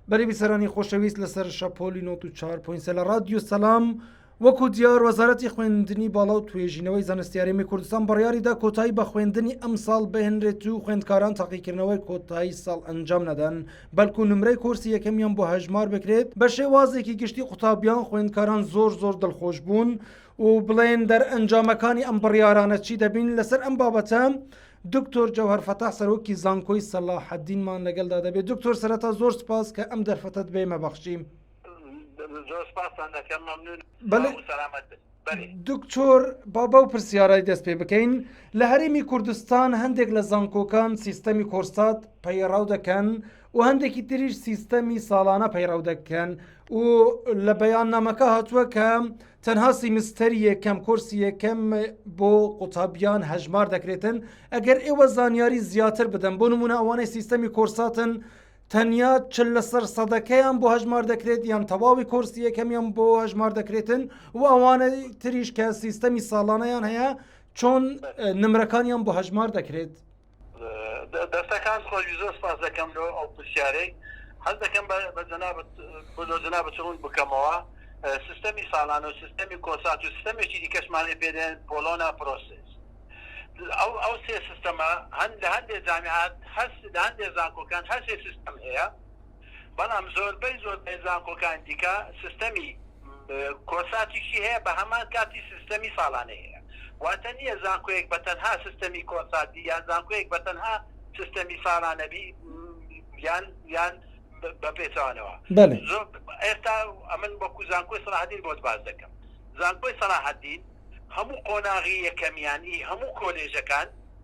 بەری بیسەرانی خۆشەویست لەسەر شەپۆلی نۆت و چار پوینسە لە ڕادیو سەسلام وەکو دیار وەزارەتی خوێندنی باڵا و توێژینەوەی زانستیارێمی کوردستان بڕیاریدا کۆتایی بە خوێندنی ئەم ساڵ بهێنرێت و خوێندکاران تاقیکردنەوەی کۆتایی ساڵ ئەنجام نەدەن بەلکو نمرەی کۆرسی یەکەمیان بۆ هەژمار بکرێت بە شێوازێکی گشتی قوتابیان خوێندکاران زۆر زۆر دڵخۆش بوون و بڵێن دەرئەنجامەکانی ئەم بڕیارانە چی دەبین لەسەر ئەم بابەتە دکتۆر جەوهەر فەتاح سەرۆکی زانکۆی سەلاحەدینمان لەگەلدا دەبێت. دکتۆر سەرەتا زۆر سپاس کە ئەم دەرفەتەت بێمە بەخشیم. زۆر سپاستان دەکەم مەمنون بەڵێ سەلامەت بن. دکتۆر با بەو پرسیارای دەست پێ بکەین لە هەرێمی کوردستان هەندێک لە زانکۆکان سیستەمی کۆرسات پەیڕاو دەکەن و هەندێکی تریش سیستەمی ساڵانە پەیڕاو دەکەن و لە بەیان نامەکە هاتووە کە تەنها سیمستەری یەکەم کۆرسی یەکەم بۆ قوتابیان هەژمار دەکرێتن ئەگەر ئێوە زانیاری زیاتر بدەن بۆ نمونە ئەوانەی سیستەمی کۆرساتن تەنیا چ لەسەر سەدەکەیان بۆ هەژمار دەکرێت یان تەواوی کۆرسی یەکەمیان بۆ هەژمار دەکرێتن و ئەوانە تریش کە سیستەمی ساڵانەیان هەیە چۆن نمرەکانیان بۆ هەژمار دەکرێت. دەستەکانت خۆش زۆر سپاس دەکەم لۆ ئەو پرسیارەی حەز دەکەم بە جەنابت بۆ لۆ جەنابت ڕوون بکەمەوە سیستەمی ساڵانە و سیستەمی کۆسات و سیستەمێکی دیکەشمانێ پێ دێن پۆڵۆنا پرۆسس ئەو ئەو سێ سیستەمە هەن لە هەندێ جامیعات هەست لە هەندێ زانکۆکان هەر سێ سیستەم هەیە بەڵام زۆربەی زۆربەی زانکۆکانی دیکە سیستەمی کۆرساتیشی هەیە بە هەمان کاتی سیستەمی ساڵانەی هەیە واتە نییە زانکۆیەک بە تەنها سیستەمی کۆرساتی یان زانکۆیەک بە تەنها سیستەمی ساڵانە بی یان یان بە پێچەوانەوە بەڵێ زۆر ئێستا ئەمن وەکو زانکۆی سەلاحەدین بۆت باس دەکەم زانکۆی سەلاحەدین هەموو قۆناغی یەکەمیان ئی هەموو کۆلێژەکان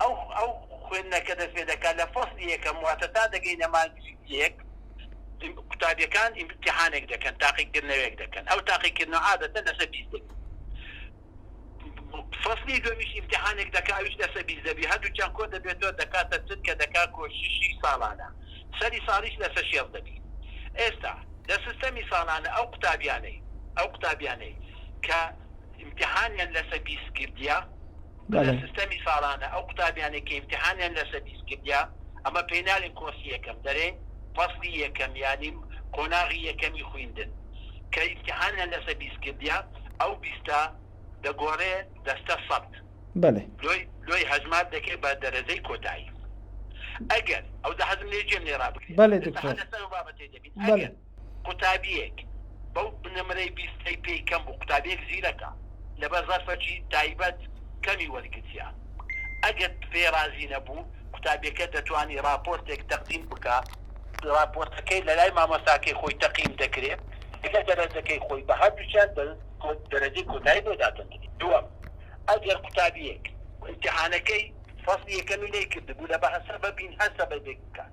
ئەو ئەو خوێندنە کە دەست پێ دەکات لە فەسڵی یەکەم واتە تا دەگەینە مانگی یەک قوتابیەکان ئیمتیحانێک دەکەن تاقیکردنەوەیەک دەکەن ئەو تاقیکردنەوە عادەتەن لەسەر بیست دەبێت فەسڵی دومیش ئیمتیحانێک دەکات ئەویش لەسەر بیست دەبێت هەردووکیان کۆ دەبێتەوە دەکاتە چل کە دەکات کۆششی ساڵانە سەری ساڵیش لەسەر شێست دەبێت ئێستا لە سیستەمی ساڵانە ئەو قوتابیانەی ئەو قوتابیانەی کە ئیمتیحانیان لەسەر بیست کردیە کە لە سیستەمی ساڵانە ئەو قوتابیانەی کە ئیمتیحانیان لە سەدیس کردیە ئەمە پێی نالێن کۆرسی یەکەم دەرێن فەسڵی یەکەم یانی قۆناغی یەکەمی خویندن کە ئیمتیحانیان لەسە بیست کردیە ئەو بیستە دەگۆرێ دەستە سەد بەلێ. لۆی لۆی هەژمار دەکرێ بە دەرەجەی کۆتایی ئەگەر. ئەوجا حەزم لێ گوێم لێ ڕابگرێ. بەلێ دکتۆر. ئێستا هەر لەسەر ئەو بابەتەی دەبین. بەلێ. ئەگەر. قوتابیەک بەو نمرەی بیست ئەی پێی کەم بوو قوتابیەک زیرەکە لەبەر زەرفەکی تایبەت کەمی وەرگرتیە ئەگەر پێی رازی نەبوو قوتابیەکە دەتوانی راپۆرتێک تەقدیم بکا راپۆرتەکەی لەلای مامۆستاکەی خۆی تەقیم دەکرێ لەگەڵ دەرەجەکەی خۆی بە هەردوکیان دەرەجەی کۆتایی بۆ دادەندرێ دوەم ئەگەر قوتابیەک ئیمتیحانەکەی فەسڵی یەکەمی نەیکردبوو لە بە هەسەبەبین هەر سەبەبێک بکات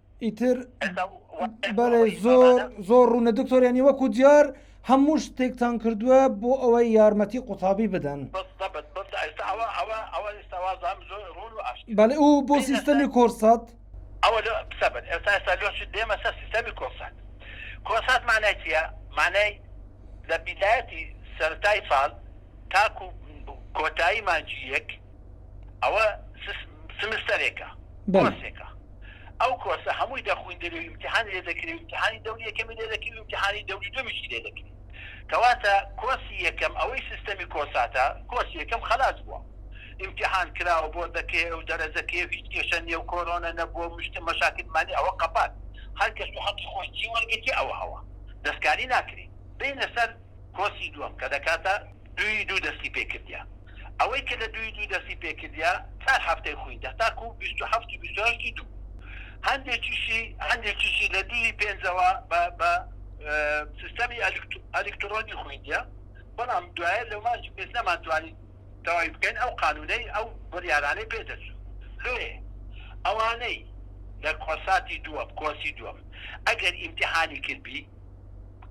ئیتر بەێ زۆر زۆر ڕوونە دکتۆر ینی وەکو دیار هەموو شتێکتان کردووە بۆ ئەوەی یارمەتی قوتابی بدەن بەێ ئەو بۆ سیستەمی کۆرسات ئەوە ئێستا ئێستا لۆ دێمە سەر سیستەمی کۆرسات کۆسات مانای چیە مانای لە بیدایەتی سەرای ساڵ تاکو کۆتایی مانجی یەک ئەوە سمستەرێکە کۆرسێکە ئەو کۆرسە هەمووی دەخویندرێ و ئیمتیحانی لێ دەکرێ و ئیمتیحانی دەوری یەکەمی لێ دەکرێ و ئیمتیحانی دەوری دووەمیشی لێ دەکرێ کەواتە کۆرسی یەکەم ئەوەی سیستەمی کۆساتە کۆرسی یەکەم خەلاس بووە ئیمتیحان کرا و بۆ دەکەیە و دەرەجە کەیە و هیچ کێشە نیە و کۆرۆنە نەبووە و مشت مەشاکل مانیە ئەوە قەپات هەر کەس و حەقی خۆی جی وەرگرتیە ئەوە هەوە دەستکاری ناکرێ بێینە سەر کۆرسی دووەم کە دەکاتە دووی دوو دەستی پێ کردیە. ئەوەی کە لە دووی دوو دەستی پێ کردیە چار هەفتەی خویندە تاکوو بیست و هەفت و بیست و هەشتی دوو. هەندێکیشی هەندێکیشی لە دووی پێنجەوە بە بە سیستەمی ئەلکت ئەلیکتڕۆنی خویندیە. بەڵام دوایە لە ماچی پێش نەمانتوانی تەواوی بکەین ئەو قانوونەی ئەو بڕیارانەی پێ دەچوو. لۆیێ ئەوانەی لە کۆساتی دووەم کۆرسی دووەم ئەگەر ئیمتیحانی کردبی،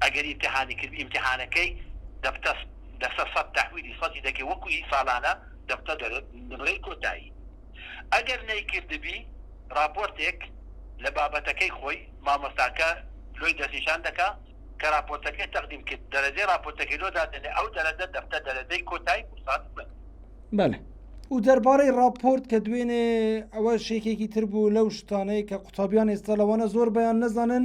ئەگەر ئیمتیحانی کردی ئیمتیحانەکەی دەبتە دەسە سەد تەحویلی سەدی دەکەی وەکو هی ساڵانە دەبتە نمرەی کۆتایی ئەگەر نەیکردبی ڕاپۆرتێک لە بابەتەکەی خۆی مامۆستاکە لۆی دەستنیشان دەکا کە ڕاپۆرتەکەی تەقدیم کرد دەرەجەی ڕاپۆرتەکەی لۆ دادەنێ ئەو دەرەجە دەبتە دەرەجەی کۆتایی بۆ ساڵی خوێندن. بەلێ و دەربارەی ڕاپۆرت کە دوێنێ ئەوە شێکێکی تر بوو لەو شتانەی کە قوتابیان ئێستا لەوانە زۆر بەیان نەزانن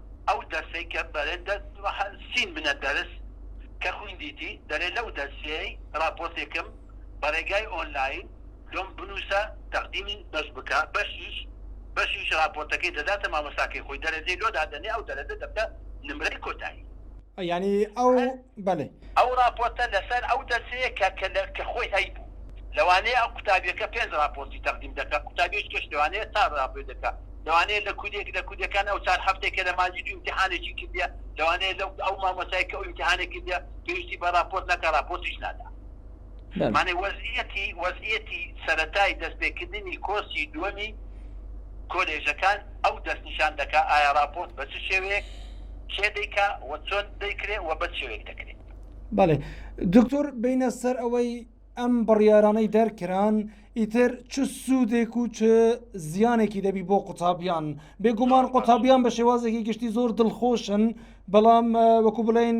ئەو دەرسەی کە بەرێ دە سین بنە دەرس کە خویندیتی دەرێ لەو دەرسیەی ڕاپۆرتێکم بە ڕێگای ئۆنلاین لۆم بنووسە تەقدیمی بەش بکە بەشیش بەشیش ڕاپۆرتەکەی دەداتە مامۆستاکەی خۆی دەرەجەی لۆ دادەنێ ئەو دەرەجە دەبتە نمرەی کۆتایی. یانی ئەو بەلێ. ئەو راپۆرتە لەسەر ئەو دەرسەیە کە کە لە کە خۆی هەیبوو. لەوانەیە ئەو قوتابیەکە پێنج راپۆرتی تەقدیم دەکا، قوتابیەکیش لەوانەیە چار راپۆی دەکا. لەوانەیە لە کودێک لە کودەکان ئەو چار هەفتەی کە لە مادی دوو ئیمتیحانێکی کردیە، لەوانەیە لەو ئەو مامۆستای کە ئەو ئیمتیحانەی کردیە پێویستی بە راپۆرت نەکا، راپۆرتیش نادا. مانێ وەزعیەتی وەزعیەتی سەرەتای دەست پێکردنی کۆرسی دووەمی کۆلێژەکان ئەو دەست نیشان دەکا ئایا ڕاپۆرت بە چ شێوەیەک کێ دەیکا و چۆن دەیکرێ و بە چ شێوەیەک دەکرێ. بەڵێ دکتۆر بینە سەر ئەوەی ئەم بڕیارانەی دەرکران ئیتر چ سوودێک و چ زیانێکی دەبی بۆ قوتابیان بێگومان قوتابیان بە شێوازێکی گشتی زۆر دڵخۆشن بەڵام وەکو بڵین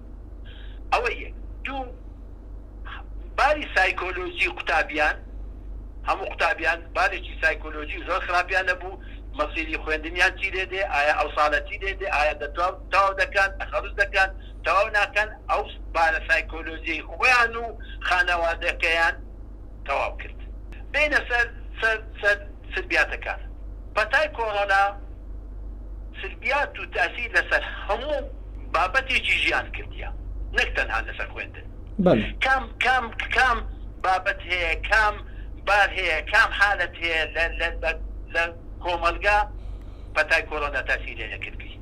ئەوە یەک، دوو باری سایکۆلۆژی قوتابیان، هەموو قوتابیان بارێکی سایکۆلۆژی زۆر خراپیان هەبوو، مەسیری خوێندنیان چی لێ دێ، ئایا ئەو ساڵە چی لێ دێ، ئایا دەتوا تەواو دەکەن، تەخەروج دەکەن، تەواو ناکەن، ئەو بارە سایکۆلۆژیەی خۆیان و خانەوادەکەیان، تەواو کرد بێینە سەر سەر سەر سلبیاتەکان پەتای کۆرۆنا سلبیات و تاسیر لەسەر هەموو بابەتێکی ژیان کردیە نەک تەنها لەسەر خوێندن کام کام کام بابەت هەیە کام بار هەیە کام حالەت هەیە لە لە لە لە کۆمەلگا پەتای کۆرۆنا تاسیر لێ نەکرد بی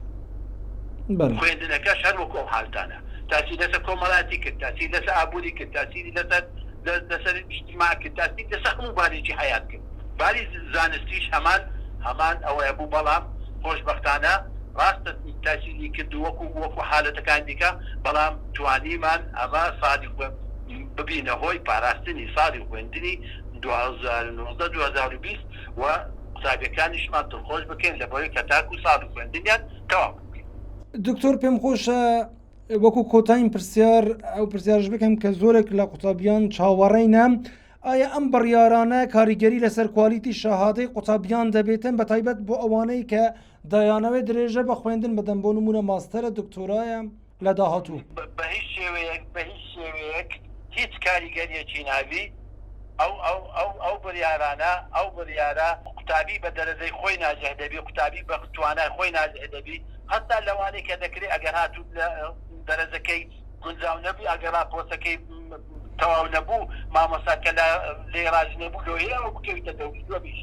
خوێندنەکەش هەر وەکو ئەو حالتانە تاسیر لەسە کۆمەلاتی کرد تاسیر لەسە ئابوری کرد تاسیری لەسەر دەست لەسەر ئیجتیماع کرد تاکتیک لەسەر هەموو بارێکی حەیات کرد باری زانستیش هەمان هەمان ئەوەیە بوو بەڵام خۆشبەختانە ڕاستە تاکیدی کرد وەکو وەکو حالەتەکانی دیکە بەڵام توانیمان ئەمە ساڵی خوێن ببینە هۆی پاراستنی ساڵی خوێندنی دوو هەزار و نۆزدە دوو هەزار و بیست و قوتابیەکانیشمان دڵخۆش بکەین لەبەوەی کە تاکو ساڵی خوێندنیان تەواو بکەین. دکتۆر پێم خۆشە وەکو کۆتاین پرسیار ئەو پرسیارش بکەم کە زۆرێک لە قوتابیان چاوەڕێینە ئایا ئەم بڕیارانە کاریگەری لەسەر کوالیتی شەهادەی قوتابیان دەبێتن بە تایبەت بۆ ئەوانەی کە دایانەوەی درێژە بە خوێندن بدەن بۆ نمونە ماستەرە دکتۆرایە لە داهاتوو بە هیچ شێوەیەک بە هیچ شێوەیەک هیچ کاریگەریەکی نابی ئەو ئەو ئەو ئەو بڕیارانە ئەو بڕیارە قوتابی بە دەرەجەی خۆی ناجح دەبی قوتابی بە توانای خۆی ناجح دەبی هەتا لەوانەی کە دەکرێ ئەگەر هاتووت لە دەرەجەکەی گونجاو نەبووی ئەگەر ڕاپۆرتەکەی تەواو نەبوو مامۆستا کە لە لێی ڕازی نەبوو لۆیێ ئەوە بکەویتە دەوری دووەم ئیش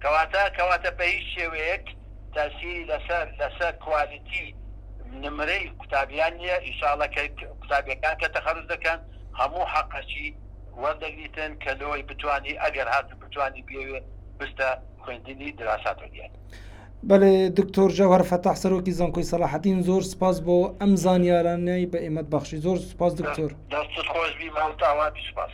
کەواتە کەواتە بە هیچ شێوەیەک تاسیری لەسەر لەسەر کوالیتی نمرەی قوتابیان نیە ئیشاڵە کە قوتابیەکان کە تەخەروج دەکەن هەموو حەقەکی وەردەگریتن کە لۆی بتوانی ئەگەر هاتوو بتوانی بیەوێ بچتە خوێندنی دراسات علیە. بەێ دکتۆر جەوهر فەتاح سەرۆکی زانکۆی سەلاحەتین زۆر سپاس بۆ ئەم زانیارانەی بە ئێمەت بەخشی زۆر سپاس دکتۆر دەستت خۆش بی مامتاوان سپاس